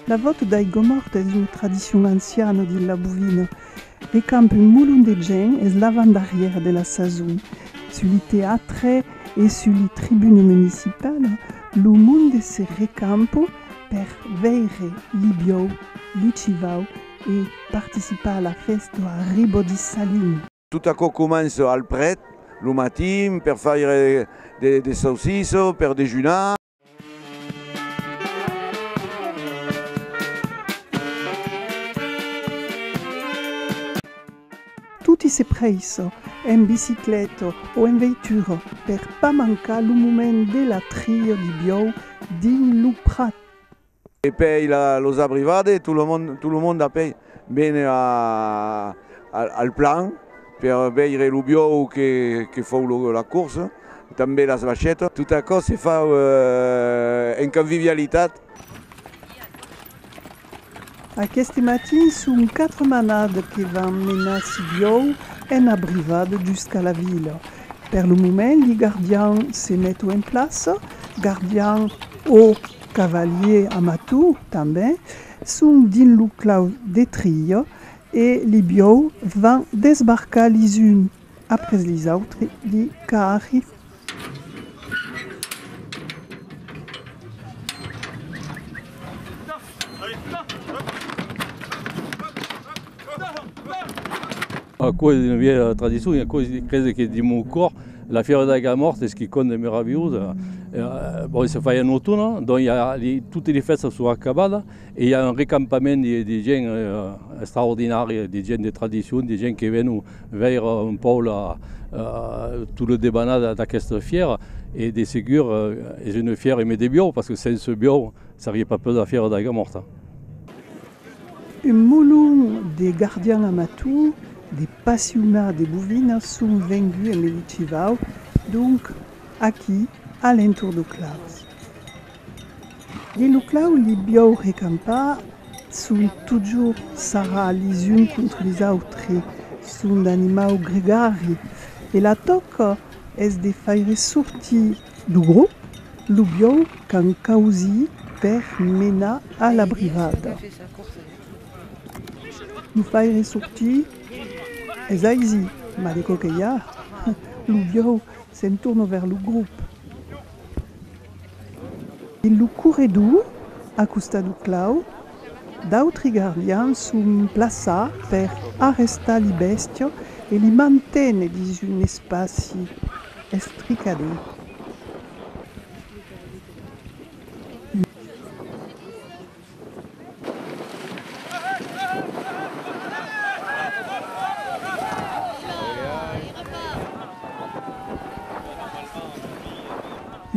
La vòt dei Gomòrt es lo tradicion anciano de la bovina. Re camp un molon de gènt es l'avantdarrièr de la sason. Sus li teatre e sus li tribune municipala, lo monde se recamp per veire li biòu, li civau e participar a la fèsta a Ribòdissalin. Tot aquò comença al pret, lo matin, per faire de saucisse per dejunar. Toti se prèissa, en bicicleta o en veitura, per pas mancar lo moment de la tria di biòu dins lo prat. E pei los abrivade, tot lo monde, tot lo monde a pei vene a al plan per veire lo biòu que que fòu lo la corsa, tanben las vachetas, tot aquò se fa en canvivialitat. Aqueste matin son quatre manades que van menar si biòu en abrivade jusqu'a la vila. Per lo moment li gardians se meto en plaça, gardians o Cavalier Amatou, tanben, son dins lo clau de Trilha e li biòu van desbarcar lis un après lis autri li carri. A causa d'una vièlha tradiçon e a causa de crese que dins mon còr la fièvra de la Gara Mòrta es quicòm de meravilhós. Bon, se fa un automne, donc i a li, totes li fèstas son acabadas e i a un recampament de, de gent extraordinària, de gent de tradiçon, de gent que vèn veire un pauc la, tot lo debanat d'aquesta fièra. E de segur es una fièra emé de biòu, parce que sense biòu serie pas possible la fièvra de la Gara Mòrta. Un molon de gardian amator, de passionat de bovinas son venguts en Melitivau, donc aquí a l'entorn d'O Claus. Dins lo clau li biòu recampar son totjorn sarra lis uns contra lis autres, son d'animau gregari e la tòca es de faire sortir Lo grop lo biau qu'an causit per menar a la brivada. Lo faire sortir es aizi, mas de quauque ja, lo biau s'entorna vers lo grop. Lo corredor, a costat lo clau, D'autri gardians son plaçats per arrestar li bèstia e li manténer dins un espaci estricador.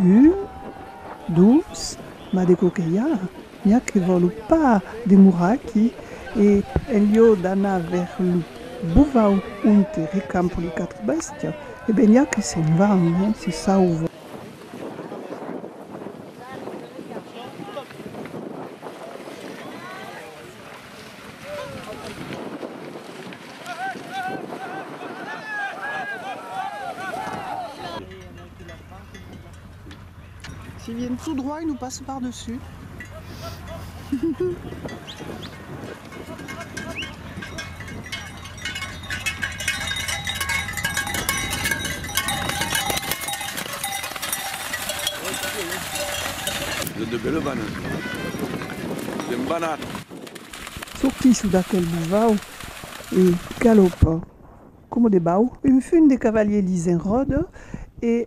Un, dos, mas de quò que i a? Ja que vòlu pas demorar aquí, e en lieu d'anar ver lo bovau onte recampo li quatre bèstias, e ben ja que se'n van, hein, se sauva. S'ils viennent tout droit, ils nous passent par dessus. Ils ont de belles vannes. Ils aiment vannar. Sortissent d'aquel bouvau e galopent coma de bau. Un fum de cavalier lis enròda e.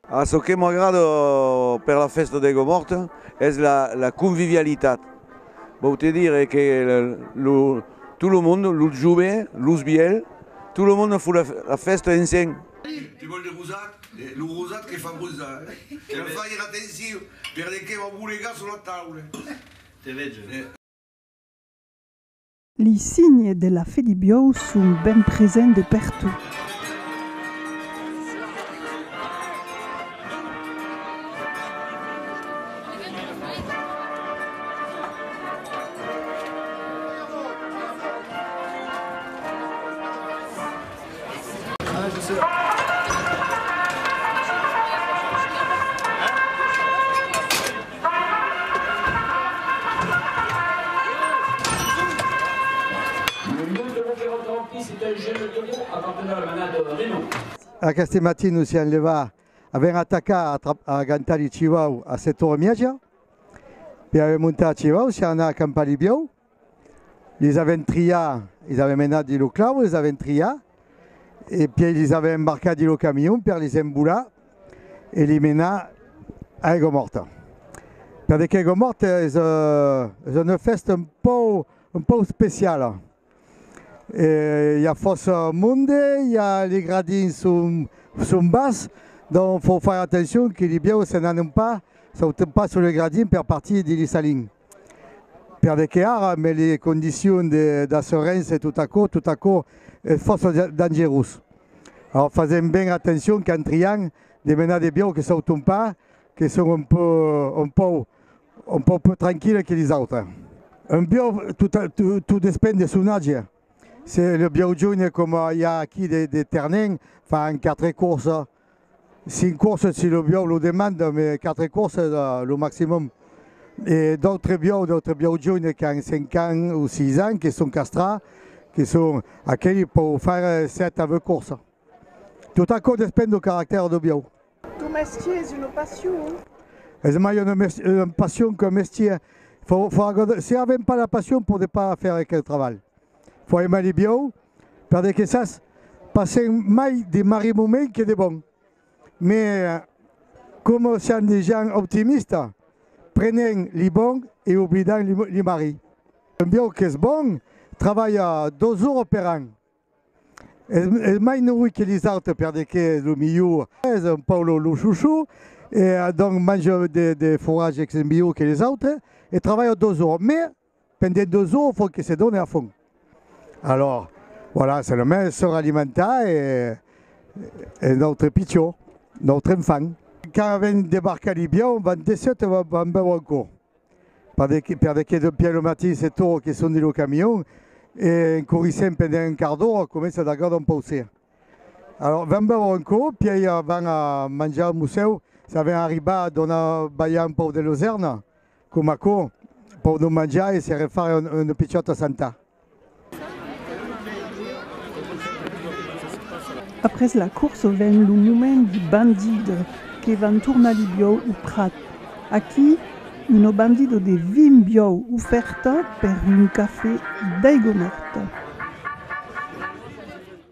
A çò que m'agrada per la fèsta d'Aigua Mòrta es la convivialitat. Vòu te dire que tot lo monde, los jove, los vièlhs, tot lo monde fo la fèsta ensenh. Ei, te vòl de rosat? Lo rosat que fa rosar, eh? Fair atencion, perdequé vau bolegar sur la taula. Te vege. Li signe de la Fedibiou son ben present de pertot. Aqueste matin nos siam levats avent atacat a gantar li civau a Setormiaja. Per aver montat civau siam anats a campar li biòu. Lis avèm triat, lis avèm menat dins lo clau, lis avèm triat e pièi lis avèm embarcat dins lo camion per lis embolar e li menar a Aiguamòrta. Per de qu'Aiguamòrta es es una fèsta un pòu un pòu speciala. E i a fòrça monde, i a li gradins son son bas, donc fò faire attention que li bièus se n'anem pas sautem pas sul gradin per partir dins li salins. Per de que ara me li condicions de d'asserense tot aquò, tot aquò es fòrça dangerós. Aor fasèm ben atencion quand trian de menar de biau que sauton pas, que son un peu, un pòu, un pòu peu tranquille que les autres. Un biau tot a, tot despend de son age. Se le biau joine coma i a aquí de de ternenh, fan quatre courses, 5 courses si lo biòu lo demanda, me 4 courses lo maximum. E d'autres biòu, d'autres biòu joines qu'an 5 ans o 6 ans que son castrats, que son aqueli pòu faire 7 a 20 courses. Tot aquò despend do caractèr do biòu. Ton mestier es una passion? Es mai una una passion qu'un mestier. Fò fò agò de si avèm pas la passion podé pas faire aquel trabalh. Fò aimar li biòu Per de que sas, passèm mai de marri moment que de bon. Me coma siam de gens optimista, prenèm li bon e oblidam li marri. Un biòu qu'es bon, travalha dos ora per an. Es mai norit que li autres per de que es lo milhor. Es un pauc lo chouchou e donc manja de forage qu'es milhor que li autres e travalha dos ora. Me Pendent de zo fon que se done a fon. Alors, voilà, se le mens se ralimenta e e notre pichó, notre enfant. Quand ven debarcar l'Ibion, van desseut e van bèu anco. Per de per de que d'un piai lo matin se toro que son dins lo camion e en corrissent pendent un quart d'ora comença a dagar d'un pauser. Alors, van bèu anco, piai van a manjar musèu, s'a ven arribar a donar balhar un pauc de losèrna. Coma aquò, pòdon manjar e se refar un pichòt a Santa. Après la corsa ven lo moment di bandido que van tornar li biòu o prat. Aquí, uno bandido de vin biòu ofèrta per un café d'aigonòrta.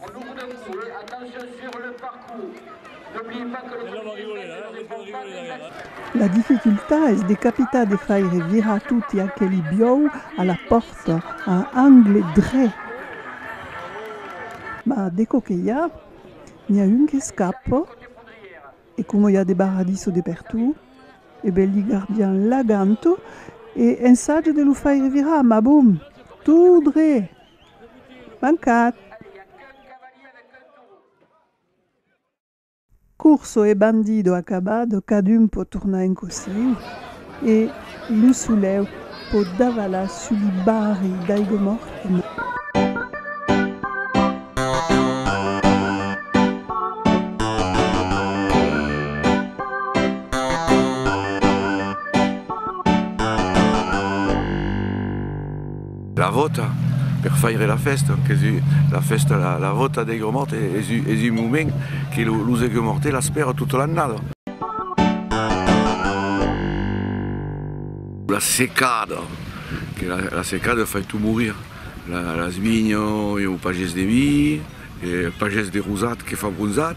En nous d'un coup eh attention sur le parcours n'oubliez pas que le comité essaye de ne répondre pas à des actes. La dificultat es de capitar de faire virar toti aqueli biòu a la pòrta a angle dret. Ma de co que i a, n'i a un qu'escapa e coma i a de barradiso de pertot e ben li gardian la ganta e ensaja de lo faire virar ma bon, tot dret! Mancat! Curso e bandido acabado, cadun pòt tornar en cosiu e lo solèu pòt davalar sus li barri d'aigua morta. La vòta per faire la fèsta, qu'es la fèsta, la vòta dei Gomòrte es un moment que los dei Gomòrte l'aspèran tota l'annada. La secada, que la secada fai tot morir, las vinhas e o pagès de vi, e el pagès de rosat que fa bronzat.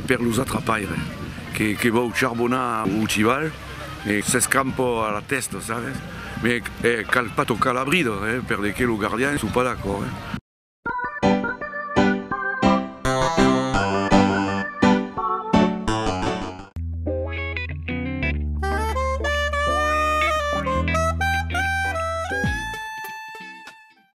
Per los atrapaires que vòu charbonar o chival. e s'escrampò a la tèsta, sabes? Me cal pas tocar la brida, eh, per de qué lo gardien sou pas d'acòrd, eh.